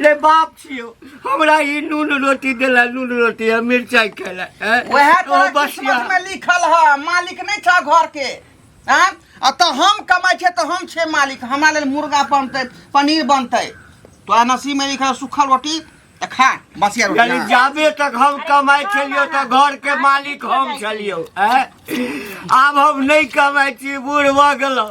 रे बाप छियो हमरा ई नून रोटी देला नून रोटी आ मिरचाई खेला हैं? वएह ओ तोरा बसिया किस्मत में लिखल है मालिक नहीं था घर के हाँ? आ तो हम कमाई छे तो हम छे मालिक हमरा लेल मुर्गा बनते पनीर बनते तो नसीब में लिखल है सूखल रोटी तो खा बसिया रोटी यानी हाँ। जाबे तक हम कमाई छलियो तो घर के मालिक हम छलियो हैं? आब हम नहीं कमाई छी बूढ़ भऽ गेलहुँ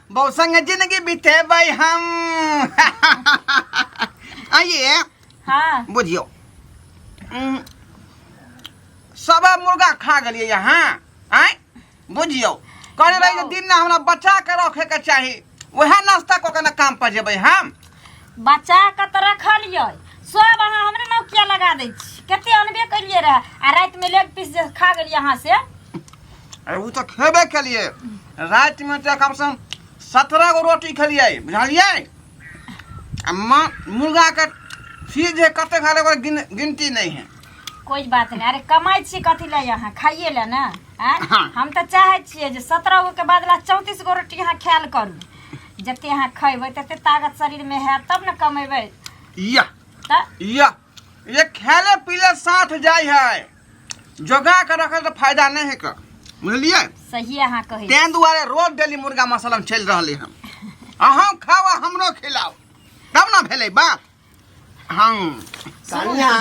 बौ संग जिंदगी बितेबै हम आइए हाँ बुझियो उम, सब मुर्गा खा गेलिए यहाँ आय बुझियो करे रही जे दिन ना हमरा बचा के रखे के चाही वह नाश्ता कऽ के ना काम पर जेबै हम बच्चा के तऽ रखलियै सब अहाँ हमरे नाम किया लगा दै छी कते अनबे करियै रहे आ राति में लेग पीस जे खा गेलियै अहाँ से अरे उ तो खेबे केलिए रात में तो कम से कम सत्रह गो रोटी खेलिए बुझलिए आ माँ मुर्गा के सीज जे कते खा लेबै गिन, गिनती नहीं है कोई बात नहीं अरे कमाई छी कथी ले अहाँ खाइए ले ने आँय? हाँ। हम तऽ चाहे छियै जे सत्रह गो के बदला चौंतीस गो रोटी अहाँ खायल करू जते अहाँ खैबै तते ताकत शरीर में है तब न कमेबै या त या ये खेले पीले साथ जाय है जोगा के रखे तो फायदा नहीं है का बुझलिए सही अहाँ कहै छी। तें दुआरे रोज डेली मुर्गा मसाला में चल रहले हम अहाँ खाओ आ हमरो खिलाओ तब ना भेले बात हंग कनिया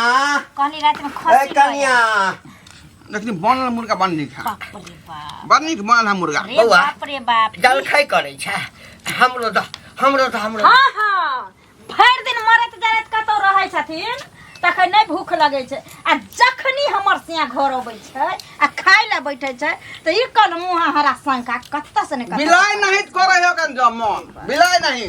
कहनी रात में ए खसी कनिया लेकिन बनल मुर्गा बन नीक है बाप रे बाप बड़ नीक बनल है मुर्गा रे बौआ। बाप रे बाप जल खाइ करै छ हमरो द हमरो द हमरो हाँ हाँ भरि दिन मरत जरत कतौ रहै छथिन तखन नहि भूख लगै छै आ जखनी हमर सिया घर अबै छै आ खाय लए बैठे छै तऽ ई कल मुँह हरा शंका कतऽ से ने कतऽ बिलाय नहीं करे हो कन जमन बिलाय नहीं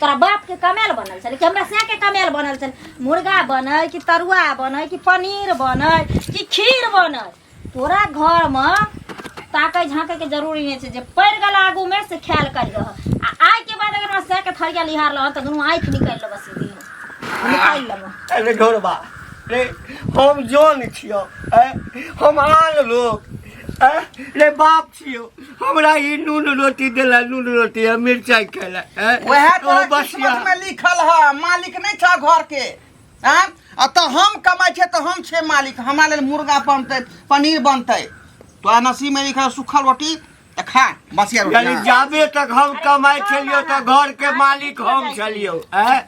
तोरा बाप के कमेल बनल छल कि हमरा से के कमेल बनल छल मुर्गा बनै कि तरुआ बनै कि पनीर बनै कि खीर बनै तोरा घर मे ताकै झाँकै के जरूरी नहीं छै जे पड़ गल आगू में से ख्याल कर रह आ आय के बाद अगर से के थरिया लिहार लह त दुनू आँखि निकाल लेब सीधी निकाल लेब अरे घोरबा रे हम जोन छियो ए हम आन लोग ए रे बाप छियो हमरा ई नून रोटी देला नून रोटी आ मिरचाई खेला हैं? वएह ओ तोरा बसिया किस्मत में लिखल है मालिक नहीं था घर के हैं? आ तो हम कमाई छे तो हम छे मालिक हमारा लेल मुर्गा बनते पनीर बनते तोरा नसीब में लिखल है सूखल रोटी तो खा बसिया रोटी यानी हाँ। जाबे तक हम कमाई छलियो त घर के मालिक हम छलियो हैं?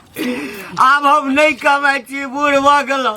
आब हम नहीं कमाई छी बूढ़ भऽ गेलहुँ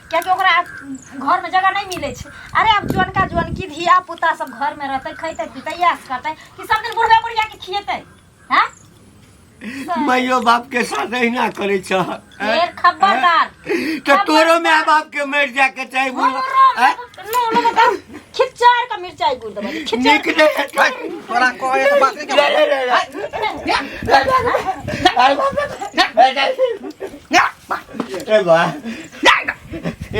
कियाकि ओकरा घरमे जगह नहि मिलै छै अरे आब जोनका जोनकी धिया पुता सब घरमे रहतै खैतै पीतै इएह से करतै कि सब दिन बुढ़बे बुढ़िया के खिएतै हैं माइयो बाप के साथ अहिना करे छ फेर खबरदार तो तोरो माय बाप के मर जाए के चाही बोल हैं? खिचार का मिर्चाई गुड़ दबा दे, खिचार नीक नहीं है तो- तोरा कहे के बात नहीं ले, ले, ले, ले। ले, ले, ले। अरे बाप रे। ले, ले। ए बा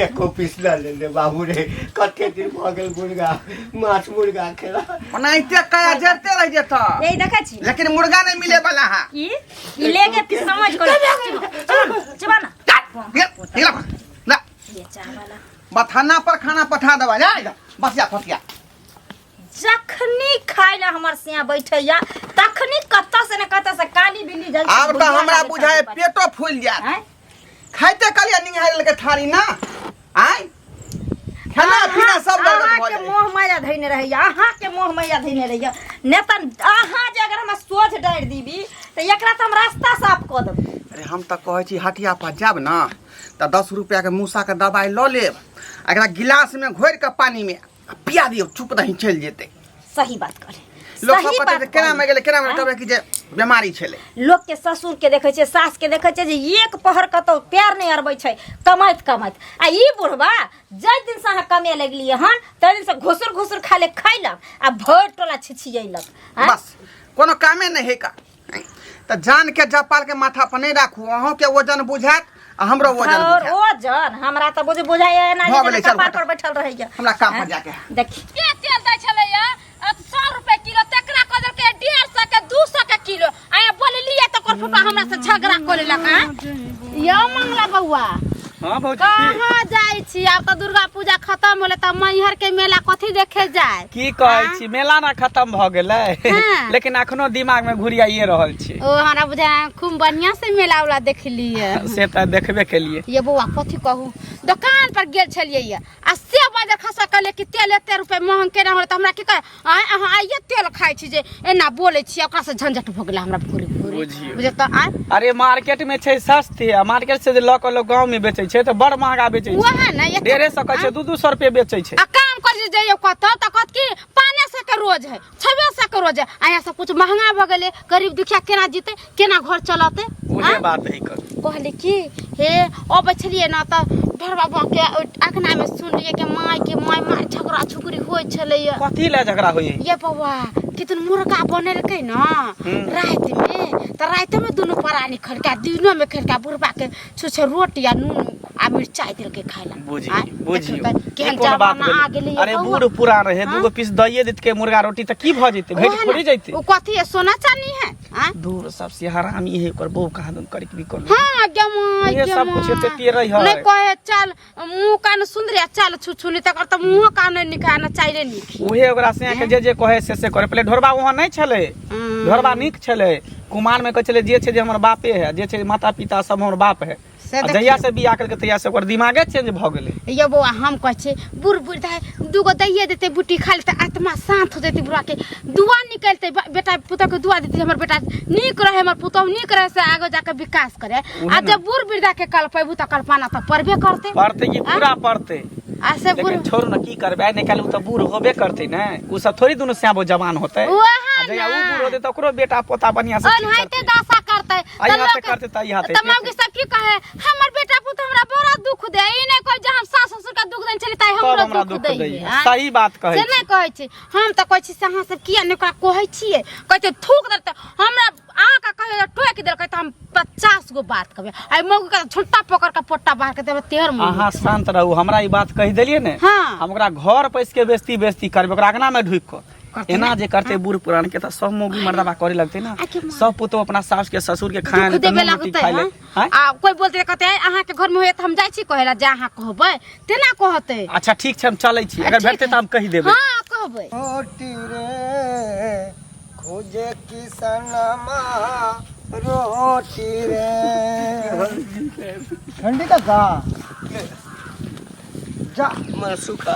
एको पीस न ले ले बाबू रे कते दिन भऽ गेल मुर्गा माछ मुर्गा खेला ओनाहिते कया जरते रह जेत यही देखै छी लेकिन मुर्गा नहीं मिले वाला है की ई लेके तू समझ कर चबा ना ये ये ला ला ये चावला बथाना पर खाना पठा देवा जा जा, बस जा फसिया जखनी खाय ला हमर सिया बैठैया तखनी कत से न कत से काली बिल्ली जल आब तऽ हमरा बुझाय पेटो फूल जायत हैं? खाइते कहलिया निहारल के थारी ना आय खाना पीना सब गड़बड़ अहाँ भऽ के जाय मोह माया धैने रहैया अहाँ के मोह माया धैने रहैया ने तऽ अहाँ जे अगर हमरा सोझ डारि दीबी तऽ एकरा तऽ हम रास्ता साफ कऽ देबै अरे हम तऽ कहै छी हटिया पर जायब ने तऽ दस रुपैआके मूसाके दबाइ लऽ लेब आ एकरा गिलासमे घोरि कऽ पानिमे आ पिया दियो चुप रही चल जेते सही बात करे लोग सही सब कहते बात जे केना में गेले केना में कहबे कि जे बीमारी छले लोक के ससुर के देखे छै सास के देखे छै जे एक पहर कतौ पैर नहीं अरबै छै कमाइत कमाइत आ ई बुढ़वा जइ दिन से अहाँ कमे लगलिए हन तइ दिन से घुसुर घुसुर खाले खैलक आ भरि टोला छिछियैलक आँय? बस कोनो कामे नहीं है का त जान के जपाल के माथा पर नहीं राखू अहों के वजन बुझात आ हमरो वजन और बुझात ओ जन हमरा त बुझ बुझाइए ना भऽ गेलै, जे चल कपार हटा। पर बैठल रहैया हमरा काम पर जाके है। देखी के तेल दै छलैया सौ रुपए किलो तेकरा कह देलकै डेढ़ सौ के दू सौ के किलो आया बोललियै तऽ ओकर फुफा हमरा से झगड़ा करे लगा यो मंगला बौआ हाँ भौजी की कहाँ जाइ छी आब तऽ दुर्गा पूजा खत्म होले तऽ मैहर के मेला कथी देखे जाए की कहै छी मेला ना खत्म भ गेलै हाँ। लेकिन अखनो दिमाग में घुरियाइए रहल छी ओ हमरा बुझा खूब बढ़िया से मेला उला देखलिए से तऽ देखबे केलिए ये बौआ कथी कहू दोकान पर गेल छलियै ये आ से बजर खसा कहले कि तेल एते रुपए महंग केना होले तऽ हमरा की कह आय अहाँ आइये तेल खाइ छी जे एना बोलै छी ओकरा से झंझट भऽ गेलै हमरा भोरे भोरे बुझियौ। बुझे तऽ आय अरे मार्केट में छै सस्ते आ मार्केट से जे लऽ के लोग गांव में बेचे छै तो बड़ महंगा बेचे छै वएह ने एते- डेढ़े सौ का छै दू दू सौ रुपये बेचे छै आ काम कर जे जइयो कतऽ तऽ कहत कि पाने सौ के रोज है छवे सौ के रोज है अहाँ सब कुछ महंगा भऽ गेलै गरीब दुखिया केना जीतै केना घर चलते उहे आँय? बात है कर कहली कि हे अबै छलियै ने तऽ ढेर बाबा के अखना में सुनलियै कि माय के माय माय झगड़ा झुगड़ी होइ छलैया कथी ला झगड़ा होई ये बाबा कितन मुर्गा बनेलकै न हम्म। राति में तऽ राति में दुनू परानी खड़का दिनो में खड़का बुढ़बा के छुछे रोटी आ नून आ मिरचाई देलकै खाय ला बुझी आँय, बुझी देखियौ तऽ केहन ई कोन बात जमाना आ भेलै? गेलै अरे बौआ। बूढ़ पुरान रहे हाँ? दूगो पीस दइए देत के मुर्गा रोटी त की भ जैते भेट ओहे थोड़ी न, जैते उ कथी है सोना चानी है आँय? दूर सबसे हरामी है ओकर बहू कहाँ दन करिक भी कर ले हाँ जमाई ये सब कुछ एते पेरै है। नहीं कहे चल मुंह कान सुंदर है, चल छुछुली तक तो मुंह कान निकालना चाहिए निक उहे ओकरा से के जे जे कहे से से करे पहले ढोरबा वहाँ नहीं छले ढोरबा नीक छले कुमार में कहै छले जे छै जे हमर बापे है जे छै माता पिता सब हमर बाप है से आ देखियौ। जहिया से बियाह करके तहिया से ओकर दिमागे चेंज भऽ गेलै यौ बौआ हम कहै छी बूढ़ बूढ़ दाइ दूगो दैये देतै बुट्टी खा लेतै आत्मा शान्त हो जेतै बुढ़ाके दुआ निकलतै बा- बेटा पुतौहके दुआ देतै जे हमर बेटा नीक रहे हमर पुतौह नीक रहे से आगे जाके विकास करे आ ने। जब बूढ़ वृद्धाके कल्पेबू तऽ कल्पना तऽ पड़बे करतै पढ़ते कि पूरा पढ़ते आ से बूढ़ लेकिन छोड़ न की करबै आइ निकालू तऽ बूढ़ होबे करते ने उ सब थोड़ी दुनू स्याबो जवान होते ओहे आ जहिया उ ने। बूढ़ होते तऽ ओकरो बेटा पोता बढ़िया से ठीक ओनाहिते करतै। दशा करतै आई तब हाथे लोग- करते ताई हाथे तब मौगी सब की कहे हमर बेटा पुत हमरा बड़ा दुख दे ई नहीं कहे जे हम सास ससुर का दुख देन चली ताई तब हमरा हमरा दुख दुख दे दै है। सही बात कहै से छी। नहीं कहे छी हम तो कहे छी से अहाँ सब किया ने ओकरा कहे छिए कहे छी थूक दे त हमरा आ का कहे जे टोक दे कहे त हम 50 गो बात कहबे आई मौगी का झुंटा पकड़ के पोट्टा बाहर के देबे तेहर मुंह अहाँ शांत रहू हमरा ई बात कहि देलियै ने हाँ। हम ओकरा घर पैस के बेस्ती बेस्ती करबै ओकरा अंगना में ढुकि कऽ एना जे करते बूढ़ पुरान के त सब मोगी मर्दबा करे लगते ना आके मार। सब पुतो अपना सास के ससुर के खाए दुख देबे लगतै खाए हँ? हैं? आ कोई बोलते कहते हैं, अहाँ के घर में होए त हम जाय छी कहे ला जा अहाँ कहबै तेना कहते अच्छा ठीक छै हम चलै छी अगर ठीक भेटते है। त हम कहि देबै हाँ कहबै रोटी रे खोजे किसनमा रोटी रे ठंडी का गा जा मर सुखा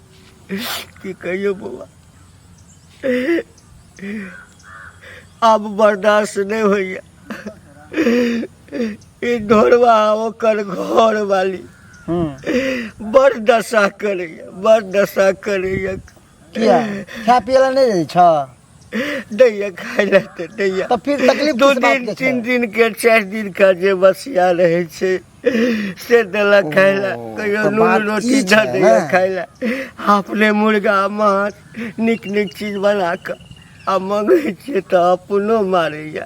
की कहियो बौआ आब बर्दाश्त नहि होइए ई ढोरवा ओकर घर वाली हम्म। बड़ दशा करैए बड़ दशा करैए किया खा पियला नहि रहै छ दैया खाय लए तऽ दैया तऽ फिर तकलीफ दू किस बात दिन के तीन छै दिन के चारि दिन का जे बसिया रहै छै से देलक खाय लए ओ, कहियो तऽ नून बात रोटी ई धऽ छै दैया ने। खाय लए अपने मुर्गा माछ नीक नीक चीज बना कऽ आ मङ्गै छियै तऽ अपनो मारैया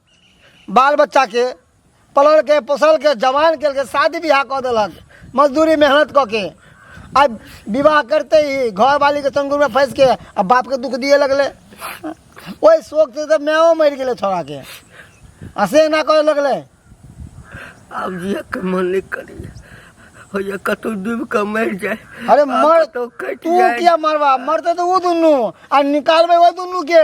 बाल बच्चा के पलल के पोसल के जवान के के शादी ब्याह कऽ देलक मजदूरी मेहनत कऽ के आ विवाह करते ही घर वाली के संगुर में फंस के आ बाप के दुख दिए लगले ओहि शोक से तऽ माओ मरि गेलै छोड़ा के आ से ना करे लगले अब ये के मन नहीं करी हो ये कतौ डूब के मर जाए अरे मर तो कट तू जाए किया मरवा मरते तो वो दुनू आ निकालबे वो दुनू के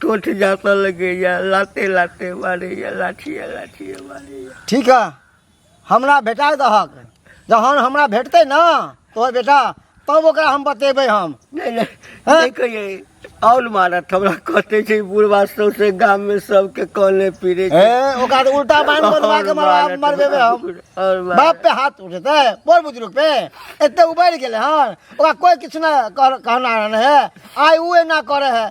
टोट जाता लगे या लाते लाते मारे या लाठी या लाठी या मारे या ठीक है हमरा भेटा दहक जहन हमरा भेटते ना तो बेटा तब ओकरा हम बतेबे हम नहीं नहीं हाँ? नहीं कहिए और मारत हमरा कहते छै बुढ़वा सौसे गाम में सबके कॉले पीरे छै। ए ओकरा तो उल्टा बांध बनवा के और मरवा मारत मरबेबे हमरा हम बुढ़- और मारत। बाप पे हाथ उठेते बड़ बुजुर्ग पे एते उबैर गेले हन ओकरा कोई किछु ना कह- कहना है आइ उ एना करे है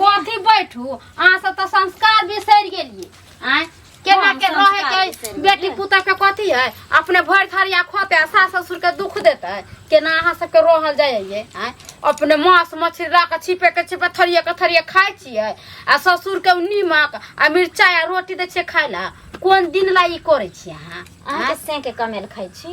कथी बैठू अहाँ सब तऽ संस्कार बिसरि गेलिए आँय केना हँ, के रहे संस्कार के बिसरि गेलियै। बेटी पुता के कथी है अपने भरि थरिया खोते आ सास ससुर के दुख देते केना अहाँ सबके रहल जाइए आँय अपने मांस मछली ला के छिपे के छिपे थरिया के थरिया खाइ छियै आ ससुर के नीमक आ मिरचाइ आ रोटी दै छियै खाय ला कोन दिन ला ई करै छियै अहाँ अहाँ के सेंके कमेल खाइ छी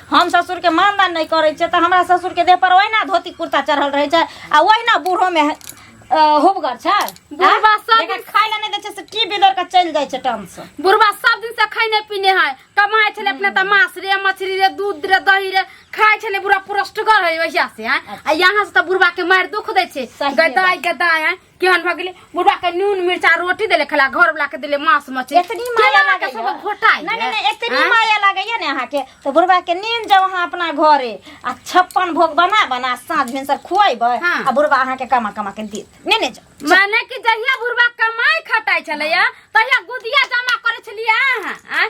हम ससुरके मानदान नहि करै छियै तऽ हमरा ससुरके देह पर ओहिना धोती कुर्ता चढ़ल रहै छै आ ओहिना बूढ़ोमे अ, हुबगर छै बुढ़बा सब जेकरा खाय लए नहि दै छै से की बिदर के चलि जाइ छै टमसँ बुढ़बा सब दिन से खैने पीने है कमाए छले अपने तऽ माछ रे मछली रे दूध रे दही रे खाए छले बुढ़ा पुरस्टगर है वैसा से हैं आ यहाँ से तऽ बुढ़बा के मार दुख दै छै सही गदाई गदाई हैं केहन भऽ गेलै बुढ़वा के नून मिर्चा रोटी देले खेला घर वाला के देले मांस मछली एतनी केना माया लगा लागैया। सब घोटाई नहीं नहीं नहीं एतनी आँय? माया लागैया ने अहाँ के तो बुढ़वा के नींद जाओ अहाँ अपना घरे आ छप्पन भोग बना बना साँझ भिनसर खुआबै हाँ। आ बुढ़वा अहाँ के कमा कमा के देत ने ने जाओ माने कि जहिया बुढ़वा कमाई खटाई छलैया तहिया गुदिया जमा करे छलियै अहाँ आँय?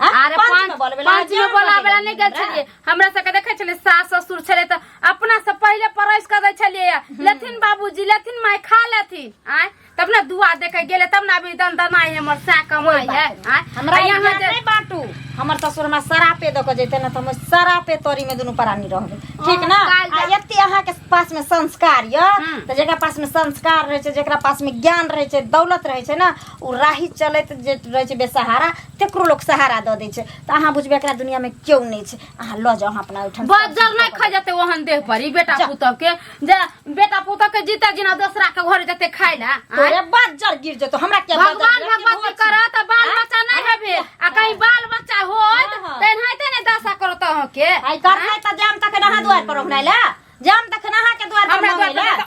आ, अरे पंच पंच में बोलबे ला, पंच में जरूर बोला बोलबे वाला ला, नहीं गेल हमरा। छलिए हमरा सबके देखे छलिए सास ससुर छले त अपना से पहिले परस कर दे छलिए लेथिन बाबूजी लेथिन माय खा लेथिन आय तब ना दुआ दे के गेले तब ना अभी दन दनाई हमर सा कमाई है आय हमरा आ यहाँ यहाँ जे- नहीं बाटू हमर ससुर हमरा सरापे दऽ के जैते ना तऽ हम सरापे तोरी में दुनू प्राणी रहबे ठीक ना काल आ जा- एते अहाँ के पास में संस्कार य हम्म। तऽ जेकरा पास में संस्कार रहे छै जेकरा पास में ज्ञान रहे छै दौलत रहे छै ना ओ राही चलैत जे रहै छै बेसहारा तेकरो लोक सहारा दऽ दै छै तऽ अहाँ बुझबै एकरा दुनियामे केओ नहि छै अहाँ लऽ जाउ अहाँ अपना ओहिठाम बजर नहि खा जेतै ओहन देह पर ई बेटा जा। पुतहु के जे बेटा पुतहु के जीता जीना दोसरा के घर जेतै खाय ले तोरे बज्जर गिर जेतौ हमरा के भगवान भगवती करत तऽ बाल बच्चा नहि हेबे आ कहीं बाल बच्चा होत हाँ, हाँ। तऽ एनाहिते ने दशा करत अहाँके आई करनाइ तऽ जाम तखन अहाँ दुआर पर ओहनाइ ले जाम तखन अहाँ के दुआर पर हमरा मंगै दुआर ले पर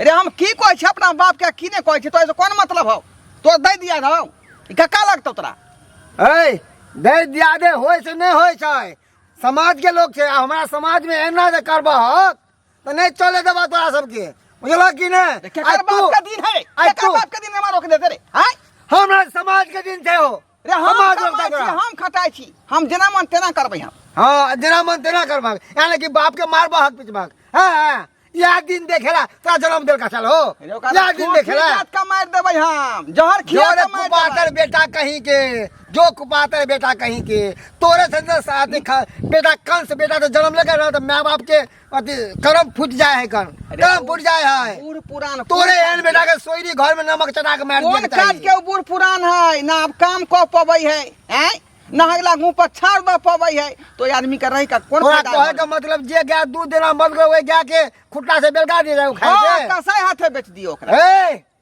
अरे हम की कहै छी अपना बाप के की ने कहै छी तो ऐसे कोन मतलब हौ तो दे दिया हौ ई कक्का लगतौ तोरा ए दे दिया दे होय से नहीं होय छै समाज के लोग छै आ हमरा समाज में एना जे करबह तो नहीं चले देबा तोरा सबके बुझलह कि नहीं आ केकर तू बाप के दिन है आइ केकर तू। बाप के दिन में मारो के देते रे हैं हमरा समाज के दिन छै हो रे हम हम आगे कमाइ तक छी, रह। हम खटाइ छी हम जेना मन तेना करबै हम हाँ जेना मन तेना करबाक यानी कि बाप के मारबा हक पिटबाक हाँ हाँ यह दिन देखेला तोरा जन्म देल का साल हो रे ओकरा यह दिन खूब देखेला खिलात का मारि देबै हम जहर खिया जोरे के मारि देबै। कुपातर बेटा कहीं के जो कुपातर बेटा कहीं के तोरे से न साथ खा बेटा कंस बेटा तो जन्म लेकर रहा तो माँ बाप के अथी करम फूट जाए है कर करम फूट जाए है बूढ़ पुरान तोरे एहन बेटा के सोयरी घर में नमक चटा के मार कोन दिया काज के उ बूढ़ पुरान है ना अब काम कऽ पबै है हैं ना अगला मुंह पर छाड़ दऽ पबै है तो आदमी के रह के कोन तोरा फायदा कहे है? के मतलब जे गाय दूध देना बंद कर ओए गाय के खुट्टा से बेलगा दे जाए हाँ, खाए के कसाई हाथे बेच दियो ओकरा ए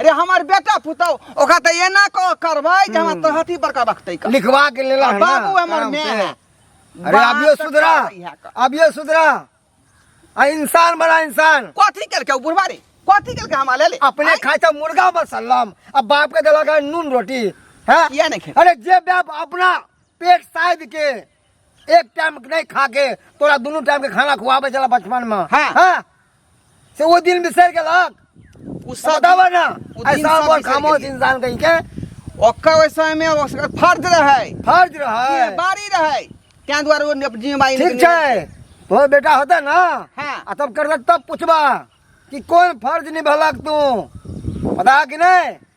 अरे हमर बेटा पुतौ ओकरा तऽ एना कऽ करबै जे हमरा तोहर हथी बड़का बखतै का लिखवा के लेला है ना, बाबू हमर आराम मैं से। है। अरे बात अभियो तऽ सुधरा करबै इएह कर। अभियो सुधरा आ इंसान बना इंसान कथी केलकै ओ बुढ़वा रे कथी केलकै हमरा ले ले अपने आँय? खाए तो मुर्गा मसल्लम अब बाप के दिला का नून रोटी है किया नहीं खेल अरे जे बाप अपना पेट साइड के एक टाइम नहीं खा के तोरा दोनों टाइम के खाना खुआवे चला बचपन में हाँ। हैं? से वो दिन बिसर के लाग उ सब बतावा ना वो दिन ऐसा सब बहुत बिसर खामोश गेलिए। इंसान कहीं के ओकर ओहि समय मे ओकर फर्ज रहै फर्ज रहे बारी रहै ताहि दुआरे ओ अपन जिम्मेवारी ठीक निकलि छै तो बेटा होता ना हाँ। आ तब करता तब पूछबा कि कौन फर्ज निभलक तू पता कि नहीं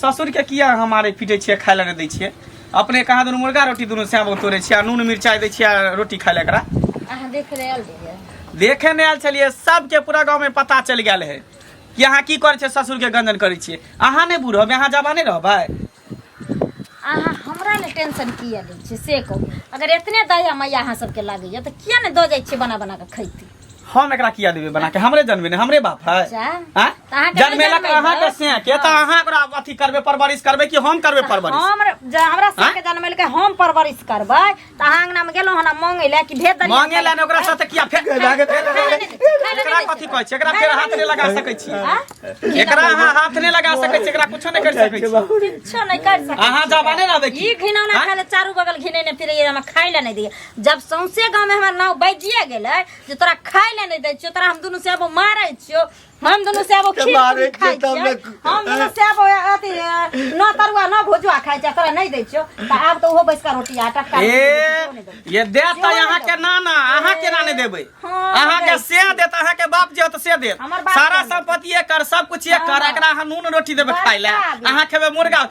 ससुरके किया अहाँ मारै पीटै छियै खाय लए नहि दै छियै अपने कहाँ दुनू मुर्गा रोटी दुनू सएह बहुत तोड़ै छियै आ नून मिरचाइ दै छियै आ रोटी खाय लए एकरा अहाँ देख रहे आयल रहियै देखे नहि आयल छलियै सबके पूरा गाँवमे पता चलि गेल है कि अहाँ की करै छियै ससुरके गंजन करै छियै अहाँ नहि बूढ़ होबै अहाँ जवाने रहबै अहाँ हमरा ने टेंशन किया लै छियै से कहू अगर एतने दया मैया अहाँ सबके लागैया तऽ किया ने दऽ जाइ छियै बना बना कऽ खैती हम एकरा किया देबे बना के हमरे जन्मे ने हमरे बाप है अच्छा। हाँ? अहाँ के जन्मेलक जन्मे अहाँ के बस। से के त अहाँ एकरा अथी करबे परवरिश करबे कि हम करबे परवरिश हम ज- हमरा साथ के जन्म के हम परवरिश करबै त अहाँ अंगना में गेलहुँ हन मांगे ले कि भेज दलिया मांगे लाने ओकरा साथे किया फेर एकरा कथी कहै छै एकरा फेर हाथ ने लगा सकै छी एकरा अहाँ हाथ ने लगा सकै छी एकरा कुछो ने कर सकै छी किछो नहीं कर सकते अहाँ जबाने रहबै की ई घिनौना हाँ? खाले चारू बगल घिनेने फिरे हम खाइ ले नहीं दिए जब सौंसे गाँव में हमार नाव बजिए गेले जे तोरा खाए ले नहीं दे छियो तोरा हम दोनों से अब मारे छियो हम दोनों से अब खीर मारे पूरी खाए छियो, तब छियो ने- हम दोनों से अब अथी अ, न तरुआ न भोजुआ खाए छियो तोरा नहीं दे छियो त आब तो ओहो बैस का रोटी आटा का ए ये दे तो यहाँ के ना ना अहाँ के ना नहीं देबै हाँ, अहाँ के दे। से देत अहाँ के बाप जे होत से देत हमर बाप सारा के देत। संपत्ति एकर सब कुछ एकर हाँ। एकरा अहाँ नून रोटी देबै खाय ले बड़का आदमी। अहाँ खेबै मुर्गा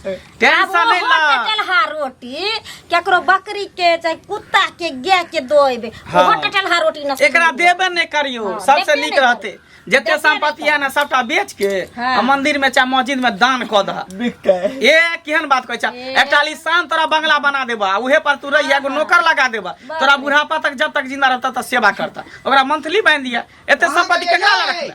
आब टेंशन ओहो नहीं ला टटल हा रोटी केकरो बकरी के चाहे कुत्ता के गाय के दोइबे हाँ। ओहो टटल हा रोटी न एकरा देबे नहीं करियो हाँ, सबसे देबे नीक नहीं रहते करियो। जते देबे संपत्ति नहीं है ना सबटा बेच के हाँ। आ मंदिर में चाहे मस्जिद में दान क दह बिकते ए केहन बात कहै छ ए। एकटा लिसान तोरा बंगला बना देबा आ उहे पर तू रहिया एगो नौकर लगा देबा बाप तोरा रे। बुढ़ापा तक जब तक जिंदा रहता त सेवा करता ओकरा मंथली बांध दिया एते संपत्ति केकरा लगा रखला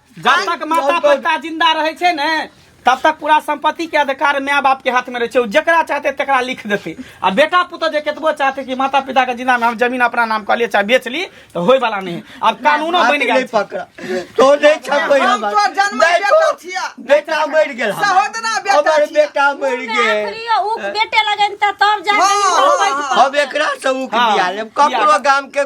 जब तक माता पिता जिंदा रहे छे ने तब तक पूरा संपत्ति के अधिकार माय बाप के हाथ में रहे छे जकरा चाहते तकरा लिख देते आ बेटा पुत जे केतबो चाहते कि माता पिता के जिंदा में हम जमीन अपना नाम कर लिए चाहे बेच ली तो होय वाला नहीं अब कानूनो बन गया पकड़ा तो नहीं छपे हम तो जन्म बेटा छिया बेटा मर गेल सहोदरा बेटा हमर बेटा मर गेल उ बेटे लगन त तब जाके हम एकरा से उक दिया लेब ककरो गाम के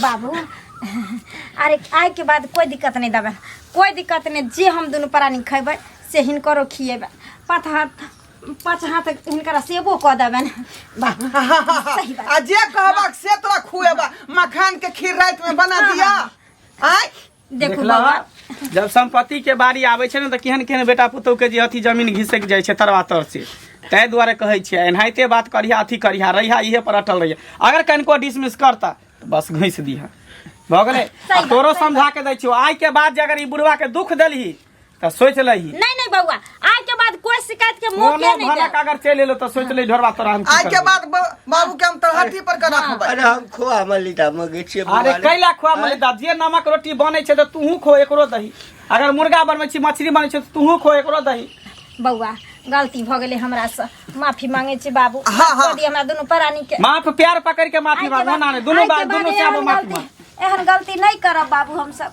बाबू अरे आय के बाद कोई दिक्कत नहीं दबे कोई दिक्कत नहीं जे हम दुनू प्राणी खेबै से हिनकरो खिएबै पाँच हाथ पाँच हाथ हिनकरा सेबो कऽ देबनि बाबू सही बात आ जे कहबक से तोरा खुएबा मखान के खीर रात में बना दिया आय देखू देखला बौआ जब संपत्ति के बारी आबै छै ने तऽ केहन केहन बेटा पुतहु के जे अथी जमीन घिसक जाइ छै तरवा तर से ताहि दुआरे कहै छियै एनाहिते बात करिहा अथी करिहा रहिहा इहे पर अटल रहिहा अगर कनिको डिसमिस करता तऽ बस घुसि दिहा भऽ गेलै आ तोरो समझा के दै छियौ आइ के बाद जे अगर ई बुढ़वा के दुख देलही त सोच लही नहीं नहीं बउआ आज के बाद कोई शिकायत के मौके कोनो नहीं भनक दे अगर चल एलो त सोच ले ढोरवा तोरा हम की आज के करबो। बाद ब- बाबू के हम तलहटी पर के रखबै अरे हम खोआ मलिदा मगे छियै अरे बुआरे। कैला खुआ मले दा जे नमक रोटी बनै छै त तूहू खो एकरो दही अगर मुर्गा बनबै छी मछली बनै छै त तूहू खो एकरो दही बउआ गलती भ गेले हमरा से माफी मांगे छी बाबू हाँ, माफ हाँ। कर दिए हमरा दोनों प्राणी के माफ प्यार पकड़ के माफी आइ के मांग ना बाद- ने दुनू आइ के बार बाद दुनू से एहन आबो माफी गलती- मांग एहन गलती नहीं करब बाबू हम सब